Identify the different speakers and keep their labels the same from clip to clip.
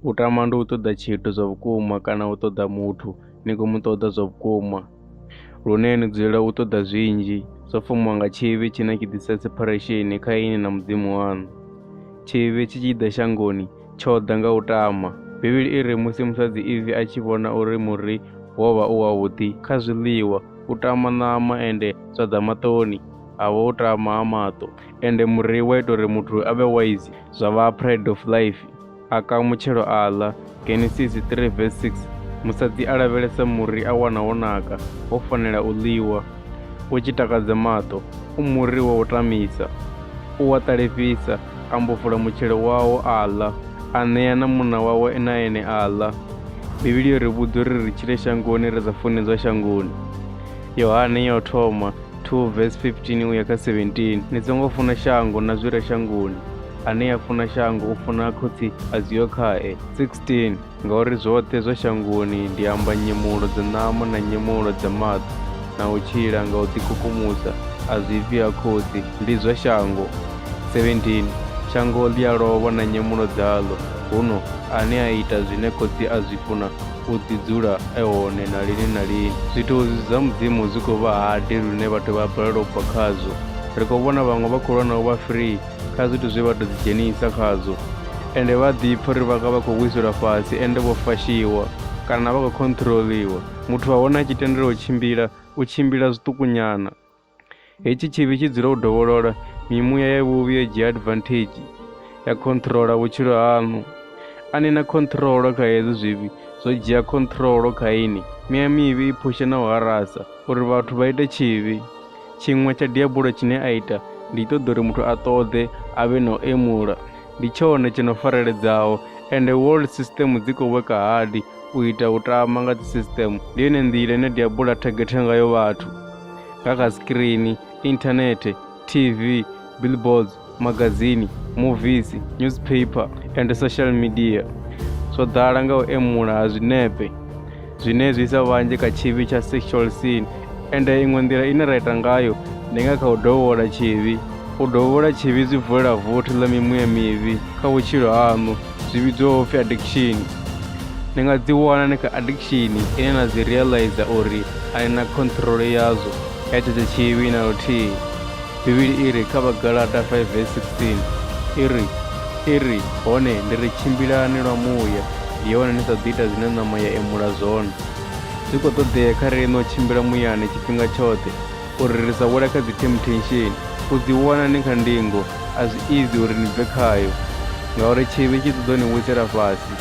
Speaker 1: u tama ndi u ṱoḓa tshithu zwa vhukuma kana u ṱoḓa muthu ni khou mu ṱoḓa zwa vhukuma lune ni dzulela u ṱoḓa zwinzhi zwo fumiwa nga tshivhi tshine tshi ḓisa separation kha ini na mudzimu waṋu tshivhi tshi tshi ḓa shangoni tsho ḓa nga u tama bivhili i ri musi musadzi ivi a tshi vhona uri muri wo vha u wavhuḓi kha zwiḽiwa u tama ṋama ende zwa ḓa maṱoni a vha o tama ha maṱo ende muri wa ita uri muthu a vhe wise zwa vha pride of life a ka mutshelo a ḽa genesis 3 vs 6 musadzi a lavhelesa muri a wana wo naka wo fanela u ḽiwa u tshi takadza maṱo u muri wa u tamisa u wa ṱalifhisa a mbo fula mutshelo wawo a ḽa a ṋea na munna wawe na ene a ḽa bivhili yo ri vhudza uri ri tshile shangoni ri sa funedzwa shangoni yohane ya u thoma 2 vesi 15 uya kha 17 ni songo funa shango na zwi re shangoni ane a funa shango u funa khotsi a zwiyo khae 16 ngauri zwoṱhe zwa shangoni ndi amba nyemulo dza ṋama na nyemulo dza maṱo na u tshila nga u ḓikukumusa a zwi bvi ha khotsi ndi zwa shango 17 shango ḽi a lovha na nyemulo dzaḽo huno ane a ita zwine khotsi a zwi funa u ḓi dzula e hone na lini na lini zwithozi zwa mudzimu zwi khou vha hade lune vhathu vha balelwa u bva khazwo ri khou vhona vhaṅwe vha khou lwa na u vha free kha zwithu zwe vha tou ḓidzhenisa khazwo ende vha ḓipfa uri vhanga vha khou vhuiselwa fhasi ende vho fashiwa kana vha khou khonṱhiroliwa muthu wa hone a tshi tendelwa u tshimbila u tshimbila zwiṱukunyana Hetshi tshivhi tshi dzula u dovholola, mimuya ya vhuvhi yo dzhia advantage ya controller vhutshilo haṋu. A ni na control kha hezwi zwivhi, zwo dzhia control kha ini. Miya mivhi i phusha na u harasa uri vhathu vha ite tshivhi. Tshiṅwe tsha diabulo tshine a ita ndi ṱoḓa uri muthu a ṱoḓe a vhe na u emula. Ndi tshone tsho no fareledzaho ende world system dzi khou worka hard u ita u tama nga dzi system. Ndi yone nḓila ine diabulo a thagetha ngayo vhathu. nga kha screen internet tv billboards magazini movies newspaper and social media zwo ḓala nga u emula ha zwinepe zwine zwi isa vhanzhi kha tshivhi tsha sexual sin ende iṅwe nḓila ine ra ita ngayo ndi nga kha u dovhola tshivhi U dovhola tshivhi zwi vulela vothi ḽa mimuya mivhi kha vhutshilo haṋu zwi vhidzwaho pfhi addiction ni nga ḓi wana ni kha addiction ine na dzi realize uri a ni na control yazwo ya tshetsho tshivhi na luthihi bivhili i ri kha vhagalata 5 vs 16 i ri i ri hone ndi ri tshimbilani lwa muya ndi hone ni sa ḓi ita zwine ṋama ya emula zwone zwi khou ṱoḓea kha riṋe u tshimbila muyani tshifhinga tshoṱhe uri ri sa wela kha dzi themuthensheni. U dzi wana ni kha ndingo a zwi izi uri ni bve khayo, ngauri tshivhi tshi ṱoḓa u ni wisela fhasi.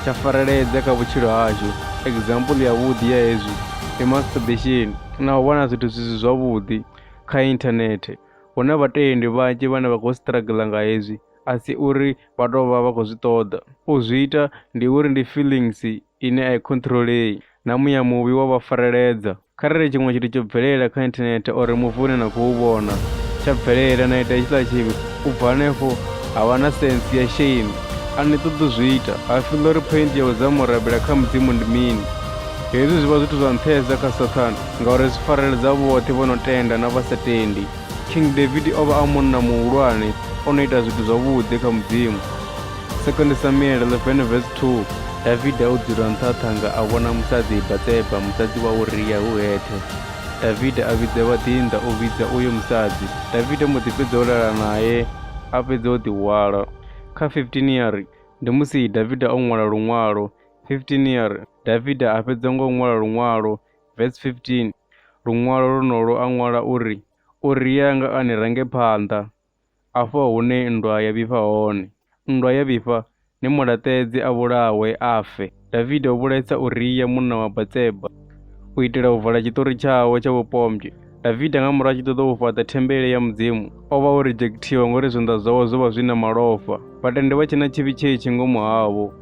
Speaker 1: Tsha fareledza kha vhutshilo hashu, example yavhuḓi ya hezwi ndi masturbation na u vhona zwithu zwi si zwavhuḓi kha internet. Hu na vhatendi vhanzhi vhane vha khou struggler nga hezwi, a si uri vha tou vha vha khou zwi ṱoḓa. U zwi ita ndi uri ndi feelings ine a i khonthiroḽei na muya muvhi wa vha fareledza. Kharali tshiṅwe tshithu tsho bvelela kha inthanethe or muvi une na khou vhona tsha bvelela na ita hetshiḽa tshivhi, u bva hanefho ha vha na sense ya shame. A ni ṱoḓi u zwi ita, ha feel uri point ya u dzama u rabela kha Mudzimu ndi mini. Hezwi zwi vha zwithu zwa nṱhesa kha Sathane ngauri zwi fareledza vhoṱhe vho no tenda na vha sa tendi. King David o vha a munna muhulwane o no ita zwithu zwavhuḓi kha Mudzimu. Second Samuel 11 verse 2 Davida o dzula nṱha ha ṱhanga a vhona musadzi Batseba musadzi wa Uria hu hethe. Davida a vhidza vhaḓinḓa u vhidza uyo musadzi. Davida mbo ḓi fhedza u lala nae a fhedza o ḓihwala. Kha 15 ya ri ndi musi Davida o ṅwala luṅwalo. 15 ya ri Davida a fhedza ngo ṅwala luṅwalo. Verse 15 luṅwalo lwonolo a ṅwala uri, Uria nga a ni range phanḓa. afho hune nndwa ya vhifha hone. Nndwa ya vhifha, ni mu laṱedze a vhulawe, a fe. Davida o vhulaisa Uria munna wa Batseba. U itela u vala tshiṱori tshawe tsha vhupombwe, Davida nga murahu a tshi ṱoḓa u fhaṱa thembele ya Mudzimu, o vha o rijekthiwa ngauri zwanḓa zwawe zwo vha zwi na malofha. Vhatendi vha tshe na tshivhi tshetshi ngomu havho,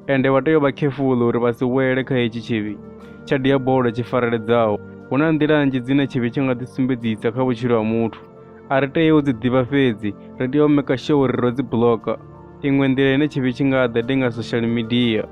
Speaker 1: ende vha tea u vha khefuḽu uri vha si wele kha hetshi tshivhi tsha diabolo tshi fareledzaho. Hu na nḓila nnzhi dzine tshivhi tsha nga ḓisumbedzisa kha vhutshilo ha muthu. a ri tei u dzi ḓivha fhedzi ri tea u maker sure uri ro dzi blocker iṅwe nḓila ine tshivhi tshi nga ḓa ndi nga social media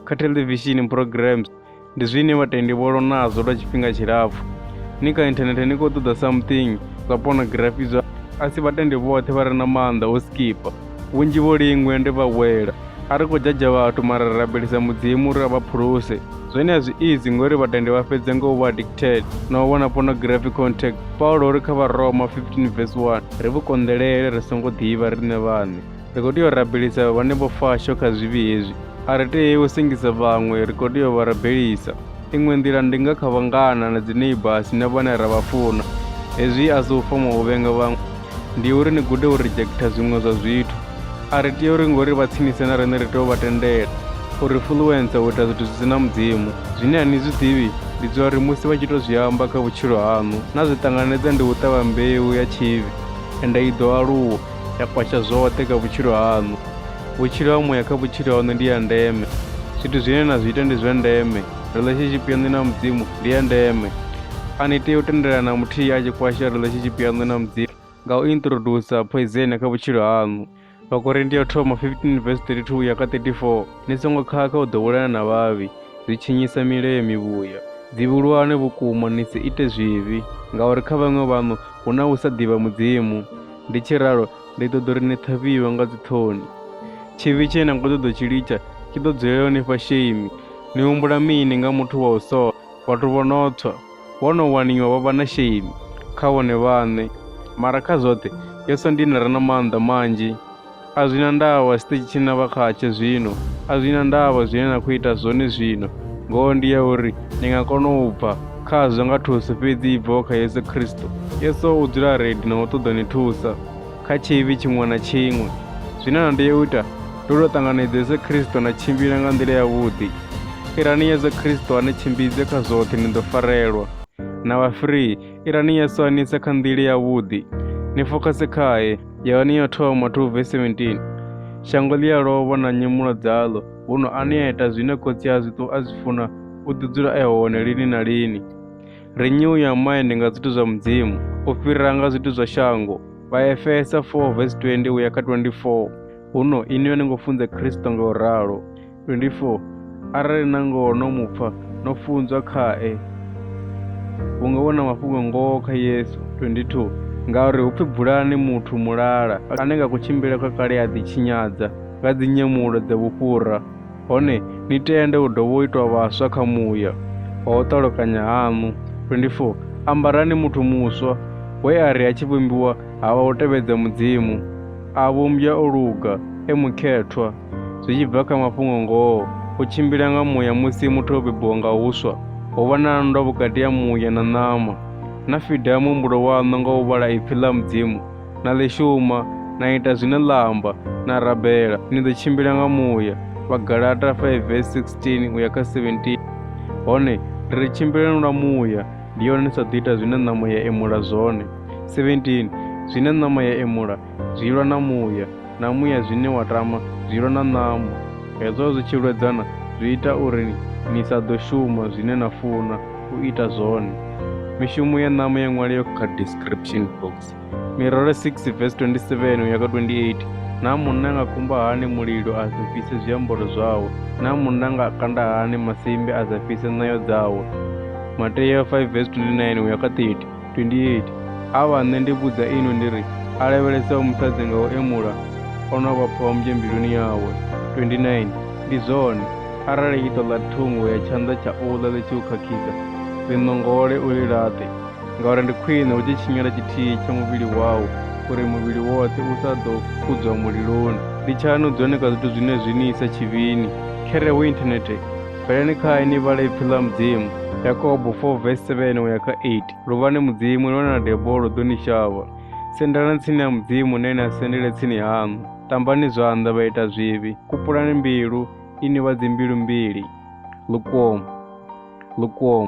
Speaker 1: kha television programs ndi zwine vhatendi vho lonazwo lwa tshifhinga tshilapfu ni kha inthanethe ni khou ṱoḓa something zwa pornography zwa a si vhatendi vhoṱhe vha re na maanḓa o skipa Vhunzhi vho lingwe ndi vha wela. A ri khou jajha vhathu mara ri rabelisa mudzimu uri a vha phuluse. Zwone a zwi izi ngori vhatendi vha fhedza nga u vha addicted na u vhona pornography contact. Paulo uri kha Vharoma 15 verse 1 ri vhu konḓelele ri songo ḓivha riṋe vhaṋe. Ri khou tea u rabelisa vhane vho fasho kha zwivhi hezwi. A ri tei u sengisa vhaṅwe, ri khou tea u vha rabelisa. Iṅwe nḓila ndi nga kha vhangana na dzi neighbours na vhane ra vha funa. Hezwi a si u foma u vhenga vhaṅwe. ndi uri ni gude u rejecta zwiṅwe zwa zwithu a ri tea uri ngori vha tsinise na riṋe ri tea u vha tendela u ri fuluwensa u ita zwithu zwi si na mudzimu zwine a ni zwi ḓivhi ndi dza uri musi vha tshi to zwi amba kha vhutshilo haṋu na zwi ṱanganedza ndi u ṱavha mbeu ya tshivhi ende i ḓo aluwa ya kwasha zwoṱhe kha vhutshilo haṋu vhutshilo ha muya kha vhutshilo haṋu ndi ya ndeme zwithu zwine na zwi ita ndi zwa ndeme relationship yaṋu na mudzimu ndi ya ndeme a ni tea u tendelana muthihi a tshi kwasha relationship yaṋu na mudzimu nga u introducer poison kha vhutshilo haṋu vhakorinti ya thoma 15 vs 32 ya kha 34 ni songo khakha u ḓowelana na vhavhi zwi tshinyisa milayo mivhuya dzivhulwane vhukuma ni si ite zwivhi ngauri kha vhaṅwe vhaṋu hu na u sa ḓivha mudzimu ndi tshi ralo Ndi ḓo ḓo ri ni ṱhavhiwe nga dziṱhoni. Tshivhi tshe na khou ṱoḓa tshi litsha tshi ḓo dzulela u ni fha shame. Ni humbula mini nga muthu wa u sola? Vhathu vho no tswa, vho no waniwa vha vha na shame kha vhone vhaṋe. Mara kha zwoṱhe, Yesu ndi ene a re na maanḓa manzhi. A zwi na ndavha tshiṱitshi tshine na vha khatsho zwino, a zwi na ndavha zwine na khou ita zwone zwino, ngoho ndi ya uri ni nga kona u bva. Kha zwi nga thusi fhedzi i bvaho kha Yesu Kristo. Yesu u dzula redi na u ṱoḓa ni thusa kha tshivhi tshiṅwe na tshiṅwe. Zwine na tea u ita ndi u tou ṱanganedza Yesu Kristo na tshimbila nga nḓila yavhuḓi. Irani Yesu Kristo a ni tshimbidze kha zwoṱhe ni ḓo farelwa. Na vha free, irani Yesu a ni ise kha nḓila yavhuḓi. Ni fokhase khae. Yohane ya thoma 2 vesi 17 Shango ḽi a lovha na nyemulo dzaḽo. huno a neta zwine khotsi a zwi a zwi funa u ḓi dzula e hone lini na lini renew your mind nga zwithu zwa mudzimu u fhirira nga zwithu zwa shango vhaefesa 4 vesi 20 uya kha 24 huno ini yo ni ngo funza khristo nga u ralo 24 arali na ngoho no mupfa no funzwa khae hu nga vhona mafhungo ngoho kha yesu 22 ngauri hu pfi bulani muthu mulala ane nga kutshimbile kwa kale a ḓitshinyadza nga dzinyemulo dza vhufhura, hone ni tende u dovha u itwa vhaswa kha muya wa u ṱalukanya haṋu. 24 ambarani muthu muswa we a ri a tshi vhumbiwa ha vha u tevhedza Mudzimu, a vhumbwa o luga, e mukhethwa, zwi tshi bva kha mafhungo ngoho, u tshimbila nga muya musi muthu o bebiwa nga huswa, ho vha na nndwa vhukati ha muya na ṋama. Na fida muhumbulo waṋu nga u vhala ipfi ḽa Mudzimu, na ḽi shuma, na ita zwine ḽa amba, na rabela. Ni ḓo tshimbila nga muya. Vhagalata 5 verse 16 uya kha 17. Hone ri ri tshimbilelani lwa muya, ndi yone ni sa ḓo ita zwine ṋama ya emula zwone. 17 zwine ṋama ya emula zwi lwa na muya, na muya zwine wa tama zwi lwa na ṋama. Hezwo zwi tshi lwedzana zwi ita uri ni sa ḓo shuma zwine na funa u ita zwone. Mishumo ya ṋama ya ṅwalea kha description box. mirole 6 vesi 27 uya kha 28 naa munna nga kumba hani mulilo a sa fhise zwiambaro zwawe naa munna nga kanda hani masimbe a sa fhise ṋayo dzawe mateya 5 vesi 29 uya kha 30 28 a vha nṋe ndi vhudza ino ndi ri a lavhelesaho musadzi nga u emula o no vha phombye mbiluni yawe 29 ndi zwone arali iṱo ḽa thungo ya tshanḓa tsha uḽa ḽi tshi u khakhisa ḽi ṋongole u ḽi laṱe ngauri ndi khwine hu tshi tshinyala tshithihi tsha muvhili wau uri muvhili woṱhe u sa ḓo kudzwa muliloni ndi tshaṋu dzone kha zwithu zwine zwi ni isa tshivhini khere hu inthanethe bvelani khae ni vhale ipfi ḽa mudzimu yakobo 4 vesi 7 uya kha 8 luvhani mudzimu lone na debo lu ḓo ni shavha sendelani tsini ya mudzimu ne na sendele tsini haṋu tambani zwanḓa vha ita zwivhi kupulani mbilu ini vha dzimbilu mbili lukomo lukomo